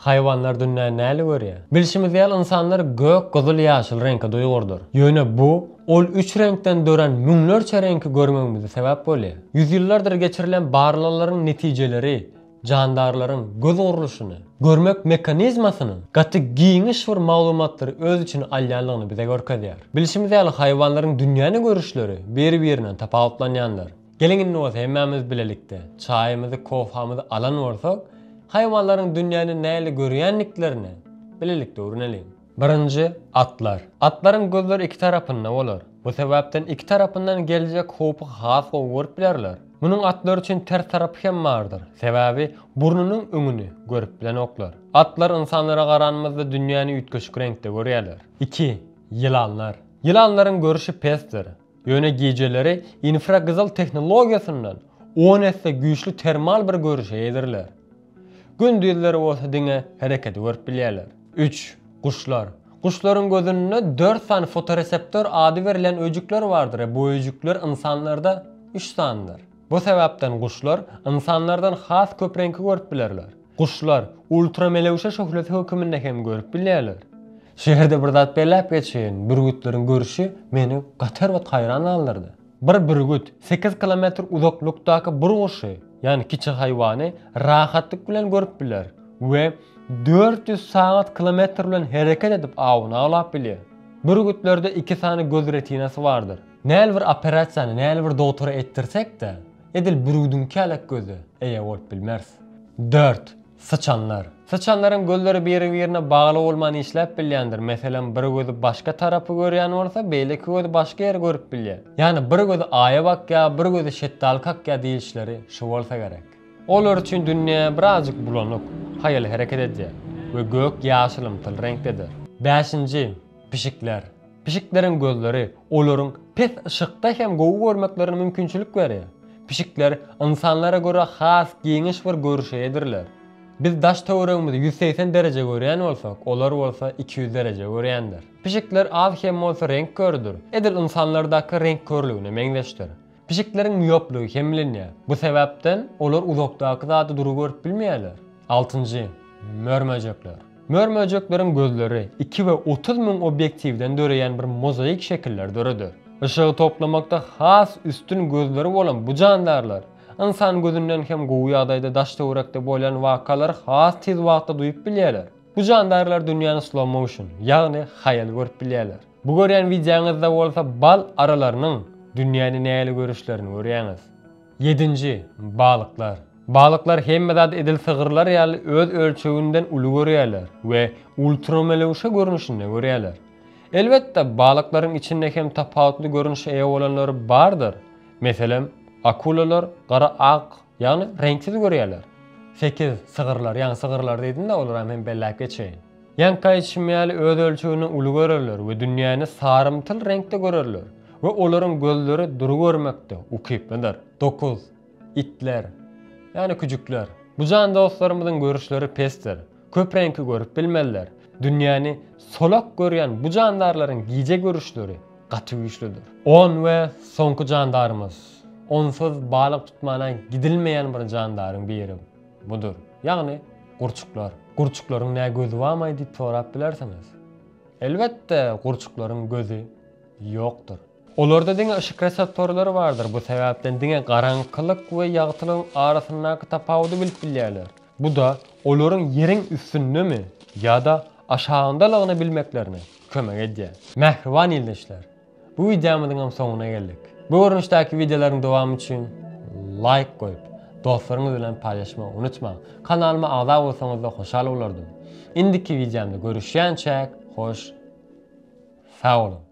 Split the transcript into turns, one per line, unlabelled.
Haýwanlar dünýä näli görýär? Bilşimiz ýaly, ynsanlar gök, gyzyl, ýaşyl reňke duýgurdyr. Ýöne bu, ol üç reňkden dörän müňlerçe reňki görmegimize sebäp bolýar. Ýüzýyllardyr geçirilen barlaglaryň netijeleri jandarlaryň göz gurluşyny, görmek mekanizmasynyň gaty giňiş bir maglumatlary öz içine alýandygyny bize görkezýär. Bilşimiz ýaly, haýwanlaryň dünýäni görüşleri bir-birinden tapawutlanýandyr. Geliň indi bolsa hemmämiz bilelikde çaýymyzy, kofamyzy alan bolsak, haýwanlaryň dünýäni nähili görýändiklerine bilelikde öwreneliň. Birinji, atlar. Atlaryň gözleri iki tarapynda bolar. Bu sebäpden iki tarapyndan geljek howpy has gowy görüp bilerler. Munuň atlar üçin ters tarapy hem bardyr. Sebäbi burnunyň öňüni görüp bilenoklar. Atlar ynsanlara garanymyzda dünýäni üýtgeşik reňkde görýärler. Iki, ýylanlar. Ýylanlaryň görşi pesdir. Ýöne gijeleri infragyzyl tehnologiýasyndan on esse güýçli termal bir görüşe eýedirler. Gündizleri bolsa diňe hereketi görüp bilýärler. Üç. Guşlar. Guşlaryň gözünde dört sany fotoreseptor ady berlen öýjükler bardyr, bu öýjükler ynsanlarda üç sanydyr. Bu sebäpden guşlar ynsanlardan has köp reňki görüp bilerler. Guşlar, ultramelewşe şöhlesi höküminde hem görüp bilýärler. Şu ýerde bir zat belläp geçeýin, bürgütleriň görşi meni gaty erbet haýran galdyrdy. Bir bürgüt, sekiz kilometr uzaklykdaky bir guşy, ýagny kiçi haýwany rahatlyk bilen görüp biler we dört ýüz sagat kilometr bilen hereket edip awyny awlap bilýär. Bürgütlerde iki sany göz retinasy bardyr. Näl bir operasiýany, näl bir dogtora etdirsek-de, Edil bürgüdiň kälek göze eýe bolup bilmeris. Dört, syçanlar. Syçanlaryň gözleri biri-birine bagly bolman işläp bilýändir, meselem, bir gözi başga tarapy görýän bolsa, beýleki gözi başga ýeri görüp bilýär. Ýagny bir gözi aýa bakýar, bir gözi şetdaly kakýar diýilişleri şu bolsa gerek. Olar üçin dünýä birazjyk bulanyk, haýal hereket edýär we gök ýaşylymtyl reňkdedir. Bäşinji, pişikler. Pişikleriň gözleri olaryň pes yşykda hem gowy görmeklerine mümkinçilik berýär. Pişikler ynsanlara görä has giňiş bir görüşe eýedirler. Biz daş-töweregimizi ýüz segsen dereje görýän bolsak, olar bolsa iki ýüz dereje görýändir. Pişikler az-kem bolsa reňk körüdir, edil ynsanlardaky reňk körlügine meňzeşdir. Pişikleriň mioplygy kemlenýär. Bu sebäpden olar uzakdaky zady dury görüp bilmeýärler. Altynjy, mör-möjekler. Mör-möjekleriň gözleri iki we otuz müň obýektiwden döreýän bir mozaik şekilleri döreder. Yşygy toplamakda has üstün gözleri bolan bu jandarlar ynsan gözünden hem gowy ýagdaýda daş-töwerekde bolýan wakalary has tiz wagtda duýup bilýärler. Bu jandarlar dünýäni slow-motion, ýagny haýal görüp bilýärler. Bu görýän wideoňyzda bolsa bal aralarynyň dünýäni nähili görüşlerini görýäňiz. Ýedinji, balyklar. Balyklar hemme zady edil sygyrlar ýaly öz ölçeginden uly görýärler we ultramelewşe görnüşinde görýärler. Elbetde, balyklaryň içinde hem tapawutly görnüşe eýe bolanlary bardyr. Meselem, akulalar gara ak, ýagny reňksiz görýärler. Sekiz, sygyrlar, ýagny sygyrlar diýdim-de, olaram hem belläp geçeýin. Ýaňky aýdyşym ýaly öz ölçegini uly görerler we dünýäni sarymtyl reňkde görerler we olaryň gözleri dury görmekde ukyplydyr. Dokuz. Itler, ýagny küjükler. Bu jan dostlarymyzyň görüşleri pesdir. Köp reňki görüp bilmezler. Dünýäni solak görýän bu jandarlaryň gije görüşleri gaty güýçlüdir. On we soňky jandarymyz. Onsuz balyk tutmana gidilmeýän bir jandaryň biri. Budur. Ýagny, gurçuklar. Gurçuklaryň nä gözi barmy diýip sorap bilersiňiz. Elbetde, gurçuklaryň gözi ýokdur. Olarda diňe yşyk reseptorlary bardyr, bu sebäpden diňe garaňkylyk we ýagtylygyň arasyndaky tapawudy bilip bilýärler. Bu-da olaryň ýeriň üstündemi ýa-da aşagyndalygyny bilmeklerine kömek edýär. Mähriban ildeşler! Bu wideomyzyň hem soňuna geldik. Bu görnüşdäki wideolaryň dowamy üçin laýk goýup, dostlaryňyz bilen paýlaşmagy unutmaň. Kanalyma agza bolsaňyzda hoşal bolardym. Indiki wideomda görüşýänçäk, hoş sag boluň.